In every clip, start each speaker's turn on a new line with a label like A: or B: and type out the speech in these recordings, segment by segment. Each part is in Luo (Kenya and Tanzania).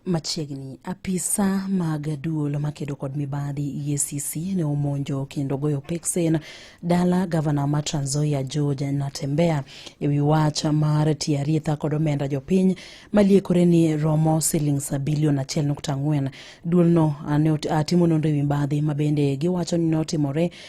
A: Machiegni apisa mag duol makedo kod mibadhi EACC ne omonjo kendo goyo peksen dala gavana ma Trans Nzoia George Natembeya ewi wach mar tiyo arietha kod omenda jopiny maliekore ni romo silings bilion achiel nukta ang'wen. Duolno timo nonro ewi mibadhi mabende giwacho ni notimore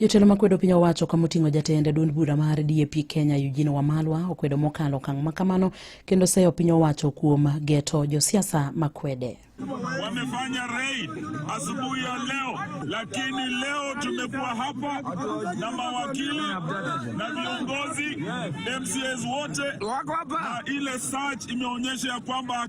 A: Jotelo makwedo piny owacho kama oting'o jatend duond bura mar DAP Kenya Eugene Wamalwa okwedo mokalo okang' ma kamano kendo seyo piny owacho kuom geto josiasa makwede wamefanya
B: raid asubuhi ya leo, lakini leo tumekuwa hapa na mawakili na viongozi MCAs wote, na ile search imeonyesha ya kwamba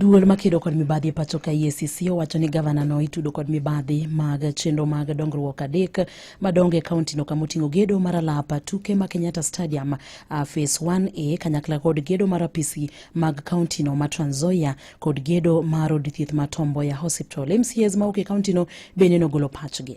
A: Duol makedo kod mibadhi e pacho ka EACC owacho ni gavana no itudo kod mibadhi mag chenro mag dongruok adek madongo e kaunti no kama oting'o gedo mar alapa tuke ma Kenyatta Stadium uh, phase 1A kanyakla kod gedo mar apisi mag kaunti no ma Trans Nzoia kod gedo mar od thieth ma Tom Mboya Hospital. MCAs mawuok e kaunti no bende nogolo pachgi.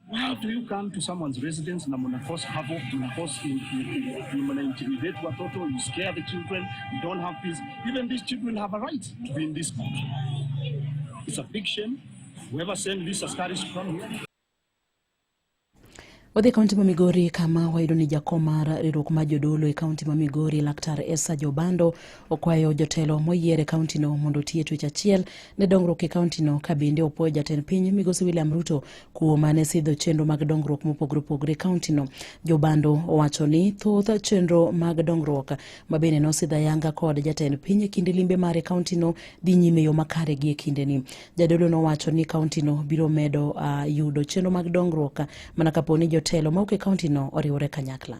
C: Why do you come to someone's residence na mna cause havoc, mna cause in, in, mna intimidate watoto, you scare the children, you don't have peace. Even these children have a right to be in this country. It's a big shame. Whoever sent this askari to come here.
A: Wadhi kaunti ma Migori kama wayudo ni jakom mar riwruok mar jodolo e kaunti ma Migori laktar Esa Jobando okwayo jotelo moyier e kauntino mondo otiye twech achiel ne dongruok e kauntino ka bende opwoyo jatend piny migosi William Ruto kuom mane sidho chenro mag dongruok mopogore opogore e kauntino. Jobando owacho ni thoth chenro mag dongruok ma bende nosidh ayanga kod jatend piny e kinde limbe mare kauntino dhi nyime yo makare gi e kindeni. Jadolo nowacho ni kauntino biro medo uh, yudo chenro mag dongruok mana kapo ni jotelo ma ok e kauntino oriwore kanyakla.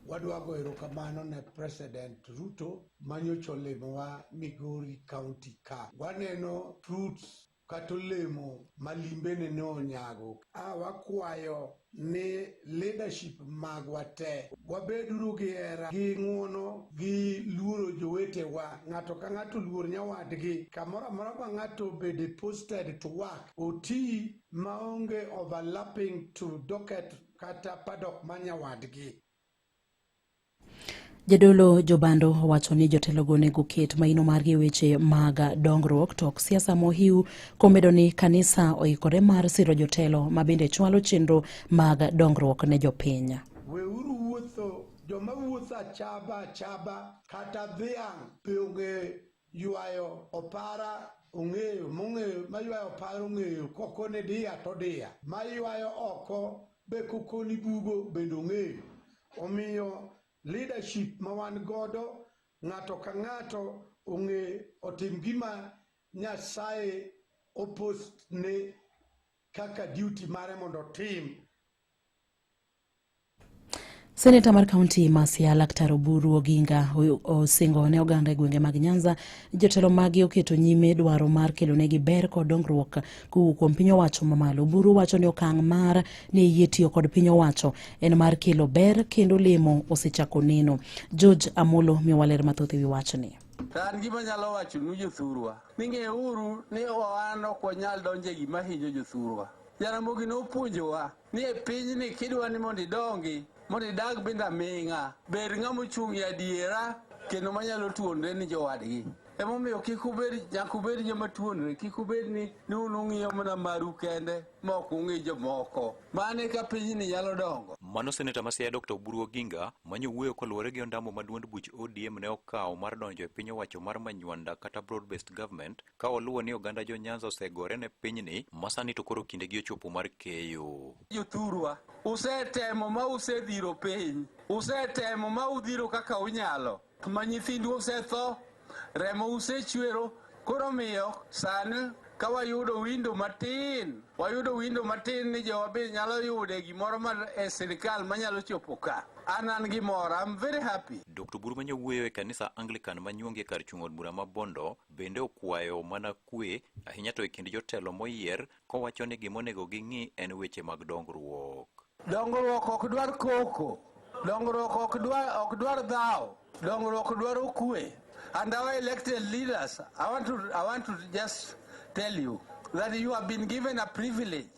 A: Wadwa go
D: erokamano ne President Ruto manyocha olimowa Migori County ka. Waneno fruits kata olemo ma limbene ne onyago. A wakwayo ni leadership magwa te wabeduru gi hera gi ng'uono gi luoro jowetewa ng'ato ka ng'ato luor nyawadgi kamoro amora ma ng'ato obede posted to work oti maonge overlapping to docket kata padok ma nyawadgi
A: Jadolo Jobando owacho ni jotelogo onego oket maino margi e weche mag dongruok to ok siasa mohiu komedo ni kanisa oikore mar siro jotelo ma bende chwalo chenro mag dongruok ne jopiny. Weuru wuotho
D: joma wuotho achaba achaba kata dhiang' be ong'e Ywayo opara ong'eyo mong'eyo maywayo opara ong'eyo koko ni diya to diya maywayo oko be koko ni bugo bende ong'eyo omiyo leadership ma wan godo ng'ato ka ng'ato ong'e otim gima Nyasaye opostne kaka duty mare mondo otim
A: Seneta mar kaunti ma Siaya Laktar Oburu Oginga osingo ne oganda e gwenge mag Nyanza jotelo magi oketo nyime dwaro mar kelonegi ber kod dongruok kowuok kuom piny owacho mamalo. Oburu wacho ni okang' mar ne yie tiyo kod piny owacho en mar kelo ber kendo lemo osechako neno. George Amolo miyo waler mathoth e wi wachni. An
E: gima nyalo wacho nu jothurwa ni ng'euru ni wan ok wanyal donjo e gima hinyo jothurwa. Jaramogi nopuonjowa ni e pinyni kidwa ni mondo idongi mondo idag binda ming'a bed ng'ama ochung' e adiera kendo manyalo tuonre ni jowadgi emomiyo kik ubed nyaka ubed joma tuonre kik ubed ni ni un ung'iyo mana maru kende ma ok ung'i jomoko mane ka pinyni nyalo dongo Mano seneta ma Siaya
F: Dr. Oburu Oginga manyo wuoyo koluwore gi ondamo ma duond buch ODM ne okawo mar donjo e piny owacho mar Manywanda kata Broad Based Government ka waluwo ni oganda jo Nyanza osegore ne pinyni masani to koro kindegi ochopo mar keyo. Jothurwa,
E: usetemo ma usedhiro piny, usetemo ma udhiro kaka unyalo, ma nyithindu osetho, remo usechwero, koro miyo sani ka wayudo windo matin, wayudo windo matin ni jowa be nyalo yude gimoro mar e sirikal manyalo chopo ka. An an gi mor, I'm very happy. Dr. Buru ma nyawuoyo
F: e kanisa Anglican ma nyuongi e kar chung' od bura ma Bondo Bende okwayo mana kwe, ahinya to e kind jotelo moyier, kowacho ni gima onego ging'i en weche mag dongruok. Dongruok ok
E: dwar koko, dongruok ok dwar, ok dwar dhaw, dongruok dwaro kwe. And our elected leaders, I want to, I want to just tell you that you have been given a privilege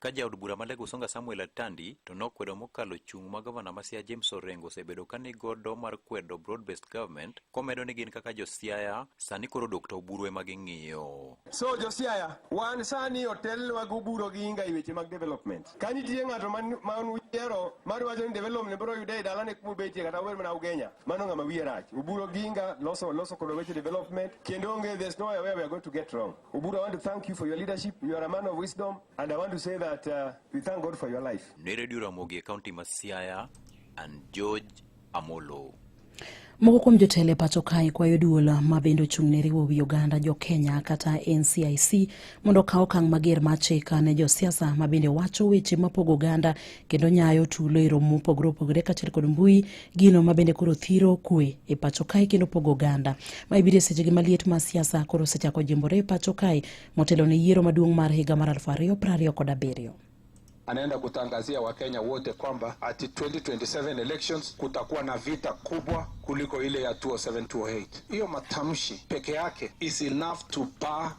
G: Ka jaod bura ma Lego
F: Songa Samuel Atandi to nokwedo mokalo chung' ma gavana ma Siaya James Orengo osebedo ka nigodo mar kwedo broad based government komedo ni gin kaka jo Siaya sani koro Dr. Oburu ema ging'iyo. So jo Siaya
H: wan sani otelnwa gi Oburu gi Inga e weche mag development. Ka nitie ng'ato ma uyiero mar wacho ni development biro yude e dalane kuma ubetie kata uber mana Ugenya mano ng'ama wiye rach. Oburu gi Inga loso loso kod weche development kendo onge there's no way we are going to get wrong. Oburu, I want to thank you for your leadership. You are a man of wisdom, and I want to say that uh, we thank God for your life. Ne Radio Ramogi e County
F: ma Siaya and George Amolo. Moko
A: kuom jotelo e pacho kae kwayo duol ma bende ochung' ne riwo wi oganda jo Kenya kata NCIC mondo okaw okang' mager mar chika ne josiasa ma bende wacho weche mapogo oganda kendo nyayo tulo e romo mopogore opogore kaachiel kod mbui gino ma bende koro thiro kwe e pacho kae kendo pogo oganda ma ibiro e sechegi maliet ma siasa koro osechako jimbore e pacho kae motelo ne yiero maduong' mar higa mar aluf ariyo piero ariyo kod abiriyo anaenda
I: kutangazia Wakenya wote kwamba ati 2027 elections kutakuwa na vita kubwa kuliko ile ya 2007 2008. Hiyo matamshi peke yake is enough to bar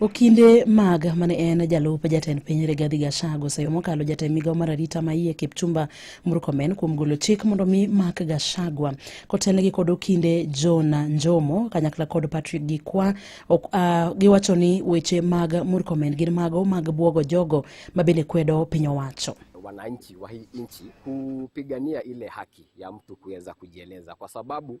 A: Okinde mag mane en jalup jatend piny Rigathi Gachagua oseyo mokalo jatend migawo mar arita ma iye Kipchumba Murkomen kuom golo chik mondo mi mak Gachagua kotelnegi kod Okinde John Njomo kanyakla kod Patrick Gikwa ok, uh, giwacho ni weche mag Murkomen gin mago mag buogo jogo ma bende kwedo piny owacho wananchi wa hii
J: nchi kupigania ile haki ya mtu kuweza kujieleza, kwa sababu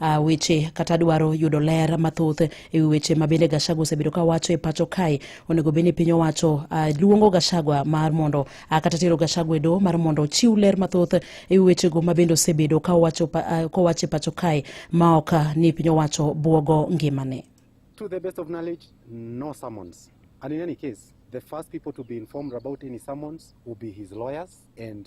A: uh, weche kata dwaro yudo ler mathoth e wi weche ma bende Gachagua osebedo ka wacho e pacho kae onego bed ni piny owacho uh, luongo Gachagua mar mondo uh, kata tero Gachagua e doho mar mondo ochiw ler mathoth e wi wechego ma bende osebedo ka owacho uh, kowacho e pacho kae ma ok uh, ni piny owacho bwogo ngimane. To the best of
K: knowledge, no summons. And in any case, the first people to be informed about any summons will be his lawyers and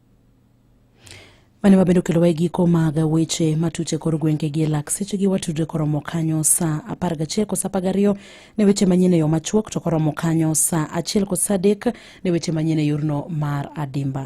A: mane wabende okelowa e giko mag weche matuche kor gwenge gi e lak sechegi watudre koromo kanyo sa apar gachiel kod sa apar gariyo ne weche manyien e yo machuok to koromo kanyo sa achiel kod sa adek ne weche manyien e yorno mar adimba